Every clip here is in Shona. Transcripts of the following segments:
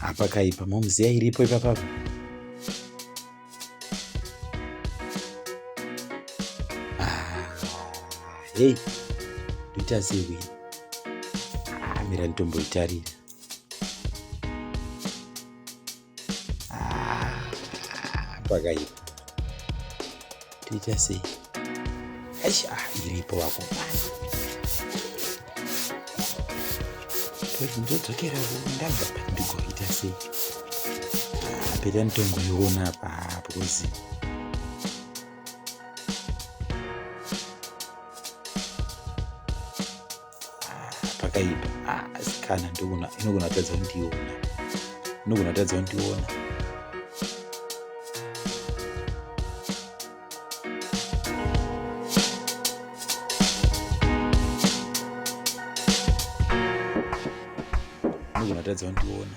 apa kaipa momuziya iripo ipapapa ah, hei ndoita sewi amira ah, nditomboitarira pakaipa toita sei aisha iripo vako ndodzokera ndabva ndigoita sei peta nditongoiona apa because pakaipa ah, asikana ndogona inogona kutadza kundiona inogona kutadza kundiona inogona kutadza kundiona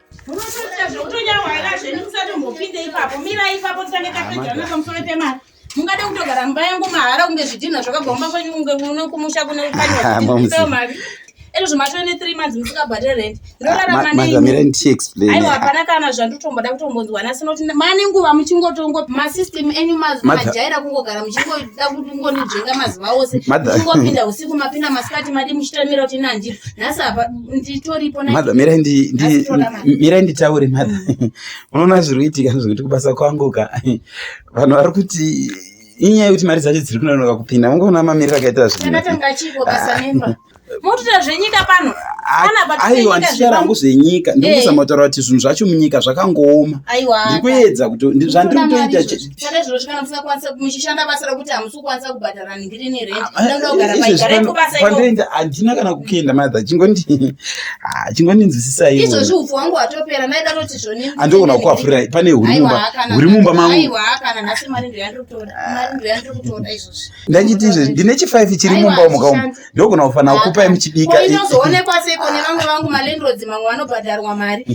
Munotoita zvekutonya hwaira zvenyu musatombopinde ipapo. Mirai ipapo titange tapedzana pamusoro pemari. Mungade kutogara mumba yangu mahara kunge zvidhinha zvakagomba kwenyu kunge kuno kumusha kune kukanywa mari. Ezvo zvimatove ne 3 months musingabhadhare rent. Ndorarama ah, nei? Mira ndichi explain. Aiwa hapana kana zvandotomboda kutombonzwa nasi noti mane nguva muchingotongo ma system enyu majaira kungogara muchingoda kungonijinga mazuva ose. Muchingopinda usiku mapinda masikati madi muchitamira kuti nandi. Nhasi apa mother mirai mirai nditaure mother mm. unoona zviri kuitika zvekuti kubasa kwangu ka vanhu vari kuti inyaya yekuti mari dzacho dziri kunonoka kupinda ungaona mamiriro akaita zvinhu motoita zvenyika pano aiwa ndichitaura hangu zvenyika eh. ndikuisa motaura kuti zvinhu zvacho munyika zvakangooma ndikuedza kuti zvandiri kutoita kukwanisa kubhadhara ndiri nerentpandoenda ah, eh, handina kana kukuenda matha chingondii ah, chingondinzwisisai izvozvi upfu wangu watopera ndaida kuti zvoni andogona kukuafurirai pane huri mumba huri mumba mangu ndachiti izvozvi ndine chifive chiri mumba umu kaumu ndogona kufanira kukupai muchibika inozoonekwa sei kune vamwe vangu malandrods mamwe vanobhadharwa mari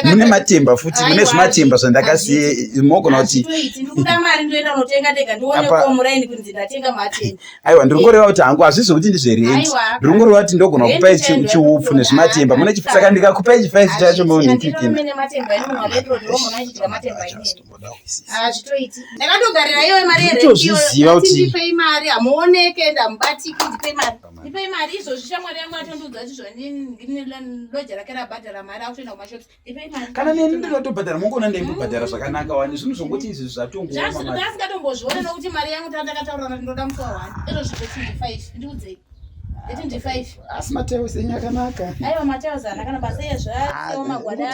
mune matemba futi mune zvimatemba zvandakasiya mogona kuti ndikuda mari ndoenda unotenga ndega ndionekwa muraini kunzi ndatenga matemba aiwa ndiri kungoreva kuti hangu hazvizi kuti ndizverendi ndiri kungoreva kuti ndogona kukupai chiupfu nezvimatemba mune chipsaka ndikakupai chifaisi chacho maonekikina hazvitoiti ndakatogarira iyoyo mari yerentiyotozviziva kuti ndipei mari hamuoneke ende hamubatiki ndipei mari ndipei mari izvozvi shamwari yangu atondiudza kuti zvondineloja rake rabhadhara mari akutoenda kumashops ndipei mari kana neni ndinotobhadhara mongoona ndaingobhadhara zvakanaka wani zvinhu zvongoti izvi zvatongozvazvisingatombozviona nokuti mari yangu tandakataura kuti ndoda musi wawani izvo zvivotindifaive ndiudzei asi mateo senyu akanaka aiwa mateo zanakana basa ezvo aomagwada